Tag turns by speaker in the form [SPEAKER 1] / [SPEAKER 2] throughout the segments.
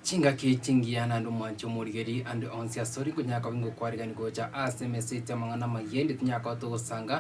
[SPEAKER 1] Chingaki chingiya naende omwanchi omorigeri ande onsi asore nkonyara koba ngokwarigani gocha ase emeseti amang'ana amayia ende tinyara koba togosanga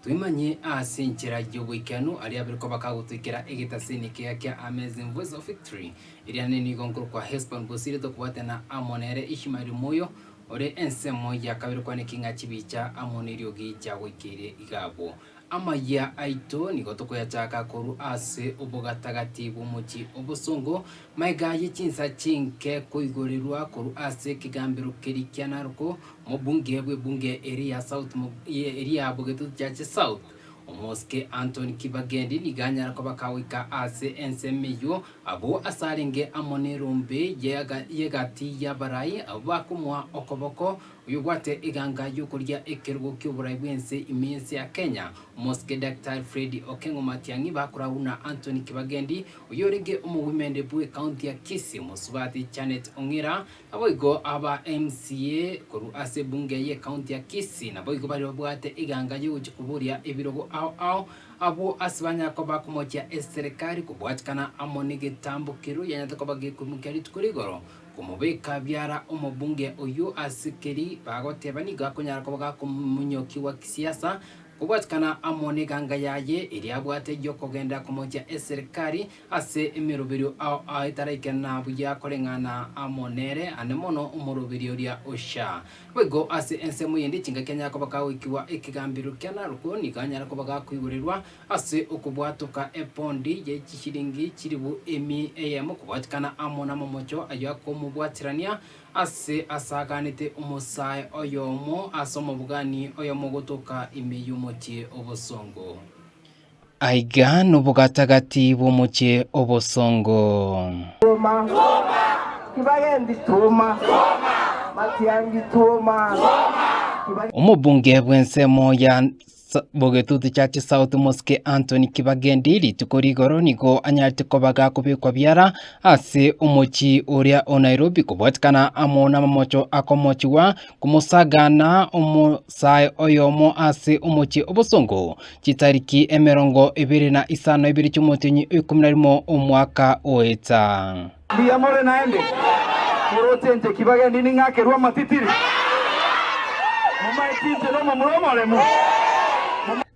[SPEAKER 1] twemanye ase enchera y'oboikeranu aria abere koba kagotoikera egetaseni ekiya kia Amazing Voice of Victory eria nene nigo nkorokwa Hesbon Bosire tokobwatana amo nere Ishmael Moyo ore ensemo ya kabere kwane king'a chibicha amo neriogi chiagoikeire iga abwo Amayia aito nigo tokoyachaka korwa ase obogatagati bw'omochie obosongo, maiga aye chinsa chinke koigorerwa korwa ase ekegambero keria kia Naroko, omobunge bw'ebunge eri ya South mo, ye, eri ya Bogetutu Chache South, omosike Anthony Kibagendi nigo anyare kobaka goika ase ensemo eyio, abwo asarenge amo n'erombe y'ega, y'egati y'abarai abwo bakomoa okoboko, Oyobwate eganga yokoria ekerogo kioborai bwense ime yense ya Kenya, Omosike Daktari Freddy Okeng'o Matiang'i bakoragwa na Anthony Kibagendi oyorenge omogoimende bwe county ya Kisii, omosubati Janet Ong'ira naboigo aba MCA korwa ase ebunge ye county ya Kisii naboigo baria babwate eganga yogochia koboria ebirogo ao ao abwo ase banyare koba bakomochia eserekari kobwatikana amo negetambo keru yanyarete koba gekoimokia rituko rigoro Komobeka biara omobunge oyio ase keri bagoteba nigo akonyara koba gakomonyoki gwa kisiasa kobwatikana amo neganga yaye eria abwate yokogenda komochia eserikari ase emeroberio ao etaraikena buya koreng'ana amo nere ande mono omoroberio oria ocha boigo ase ensemo yende chingaki anyara koba gagoikigwa ekegambero kia Narok nigo anyara koba gakoigorerwa Ase okobwatoka epondi ye chishiringi chilifu emi eyemo kobwatikana amo namomocho ayio akomobwatirania, ase asaaganete omosae oyomo ase omobogani oyomo gotoka ime y'omochie obosongo. Aiga nobogatagati bw'omochie obosongo. Tuma,
[SPEAKER 2] kibagendi tuma, matiangi tuma, kibagendi
[SPEAKER 1] Omobunge bw'ensemo ya Bogetutu Church South Mosque Anthony Kibagendi rituko rigoro nigo anyarete koba gakobekwa biara ase omochie oria o Nairobi kobwatikana amo namamocho akomochigwa komosagaana omosae oyomo ase omochie obosongo chitariki emerongo ebere na isano na ibere chi'omotienyi o ikomi na rimo omwaka oeta. Mbuya more
[SPEAKER 2] naende? Morochenche ki bagendi ning'akerwe amatitiri? Momaeti inche nomomura omoremu?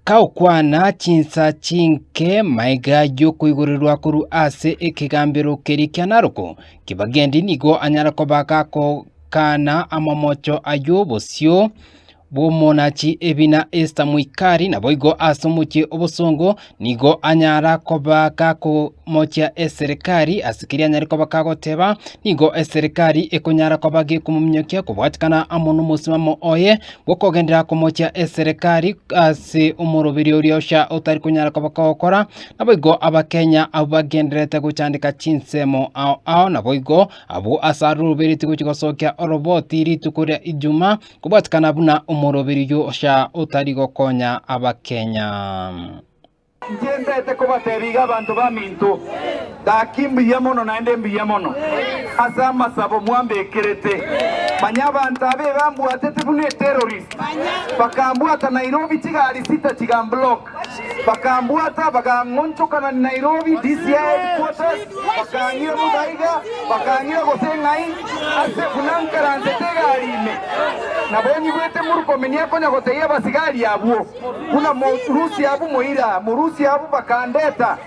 [SPEAKER 2] Kagokwana
[SPEAKER 1] chinsa chinke maiga y'okoigorerwa korwa ase ekegambero keria kia Naroko, ki bagendi nigo anyare koba gakogana amamocho ay'obosio, bw'omonachi ebi na Esta moikari, naboigo ase omochie obosongo nigo anyara koba gakomochia eserekari, ase keria anyare koba kagoteba, nigo eserekari ekonyara koba gekomominyokia kobwatikana amo nomosimamo oye bw'okogenderera komochia eserekari ase omoroberi oria ocha otari konyara koba kogokora. Naboigo Abakenya abwo bagendererete gochandeka chinsemo ao ao naboigo abwo ase arorubereti gochi gosokia oroboti rituko ria Ijumaa, Kobwatikana buna omoroberio ocha otari gokonya abakenya.
[SPEAKER 2] Ntienderete kobateebia iga abanto baminto, Gaki mbuya mono naende mbuya mono ase amasabo mwambekerete. Manya abanto aba ebambwatete buna eterrorist, bakambwata Nairobi chigaari sita chigamblock. Bakambwata, bakang'onchokana Nairobi DCI headquarters, bakang'ira bosa iga, bakang'ira gose ng'ai ase buna nkaransete egari ime. Nabonyigwete Murkomen akonya gotebia abasigari abwo, Buna morusia abwo moira, morusia abwo bakandeta.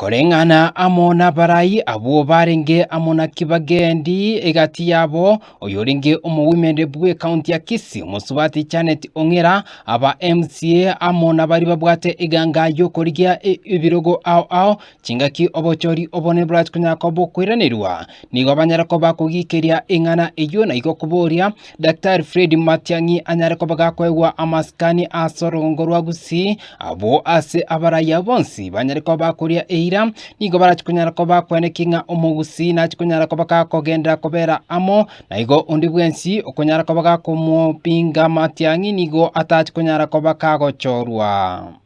[SPEAKER 2] Koreng'ana
[SPEAKER 1] amo nabarai abwo barenge amo na Kibakeni egati yabo, oyorenge omowomeneri bw'ekaunti ya Kisii, omosubati Janet Ong'era, aba MCA amo nabaria babwate eganga y'okorigia ebirogo ao ao chingaki obochori obonene borachikonyara koba okoiranerwa, nigo banyare koba kogikeria eng'ana eyio naigo koboria Daktari Fred Matiang'i anyare koba gakoegwa amasikani ase orogongo rwa Gusii, abwo ase abarayia bonsi banyare koba bakoria eira, nigo barachia konyara koba bakwenekia ng'a Omogusii nachia konyara koba gakogenderera kobera amo, na igo onde bwensi okonyara koba gakomopinga Matiang'i nigo atachia konyara koba kagochorwa.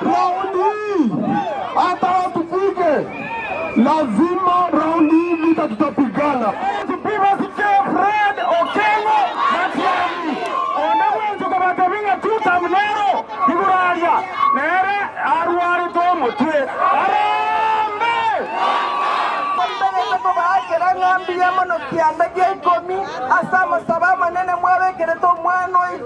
[SPEAKER 2] Raundi hii hata watupige lazima raundi hii vita tutapigana. Tibasiche Fred Okengo Matiangi onde bwensi kobatebia ng'a two term nero igoro aria nere arwarete omotwe. Harambee! Mbegete
[SPEAKER 3] kobaakera ng'a mbuya mono kianda gia ikomi ase amasabo amanene mwabekerete omwana oito.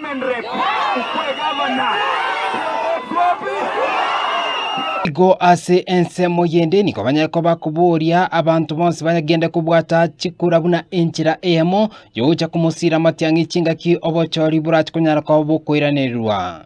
[SPEAKER 1] Igo ase ensemo yende nigo banyare koba koboria abanto bonsi bagende kobwata chikura buna enchera eyemo yogocha komosira amatiang'i chingaki obochori borache konyara koba bokoiranererwa.